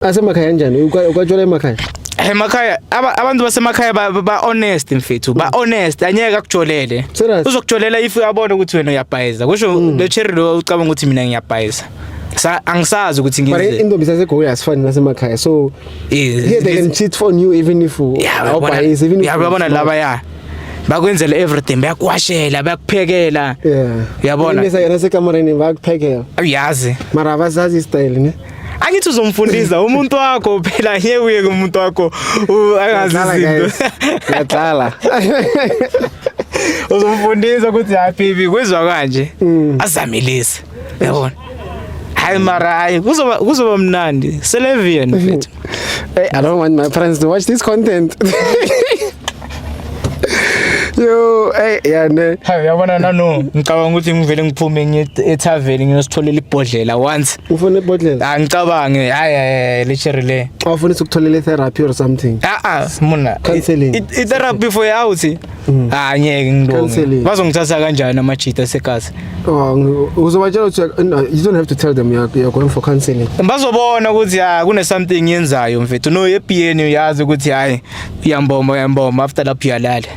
Asemakhaya kanjani? Ukwatshwala emakhaya? emakhaya abantu basemakhaya ba honest mfethu ba honest anyeke akujolele uzokujolela if uyabona ukuthi wena uyabhayiza kusho lo hmm. cherry lo ucabanga ukuthi mina ngiyabhayiza sa angisazi ukuthi ngize but intombi sasegoyi asifani nasemakhaya so yeah they can cheat on you even if awubhayiza even if yabona laba ya bakwenzela everything bayakuwashela bayakuphekela uyabona yeah. yena sekamareni bayakuphekela uyazi mara abazazi istyle ne angithi uzomfundisa umuntu wakho phela ngeke uye kumuntu wakho angazi izinto ngiyadlala uzomfundisa ukuthi happy bi kwizwa kanje mm. azamilise yabona hayi mara hayi kuzoba kuzoba mnandi selevian mfethu hey i don't want my friends to watch this content yo hey yane hayi yabona nano ngicabanga ukuthi ngivele ngiphume ngiye ethaveni ngiyositholela ibhodlela once ufuna ibhodlela ah ngicabange hayi hayi lecture le awufuna ukutholela therapy or something ah ah mona counseling i therapy for out mm. ah ngeke ngilunge bazongithatha kanjani amajita segazi oh uzobatshela ukuthi you don't have to tell them you're, you're going for counseling bazobona ukuthi ah kune something yenzayo mfethu no ebiyeni uyazi ukuthi hayi Uyambomba uyambomba after lapho uyalala.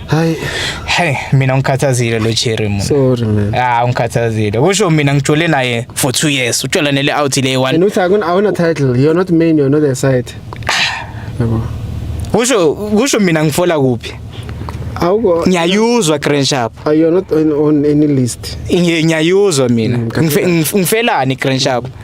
Hayi. Hey, mina ngikhathazile lo Cherry mina. Sorry man. Ah, ngikhathazile. Kusho mina ngijole naye for 2 years. Ujola nele out le one. And uthi akuna awuna title. You're not main, you're not the side. Yebo. Kusho kusho mina ngifola kuphi? awuko ngiyayuzwa grand shop are you not on, on any list ngiyayuzwa mina mm, ngifelani grand shop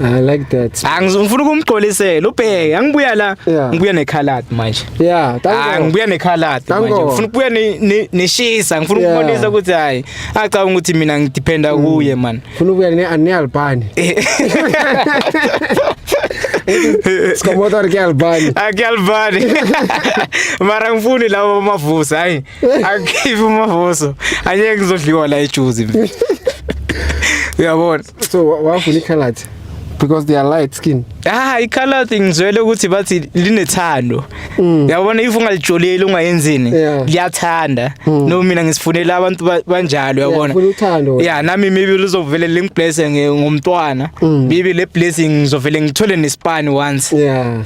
I like that. Angizongifuna ukumgqolisela ubheke angibuya la ngibuya nekhalad manje. Yeah, thank you. Ah, ngibuya nekhalad manje. Ngifuna ukubuya neshisa, ngifuna ukubonisa ukuthi hayi acabanga ukuthi mina ngidependa mm. kuye man. Ngifuna ukubuya ne Anelbani. Sikomotor ke Albani. Ake Albani. Mara ngifuni labo amavuso hayi. Akhiphe umavuso. Anye ngizodliwa la ejuzi. Uyabona. so wafuna ikhalati because they are light skin ah ikhala thing ngizwele ukuthi bathi linethando mm. yabona if ungalijoleli ungayenzini liyathanda mm. no mina ngisifunela abantu banjalo yabona yeah nami maybe lizovele lingiblesse ngomntwana mm. maybe le blessing ngizovele ngithole nespan once yeah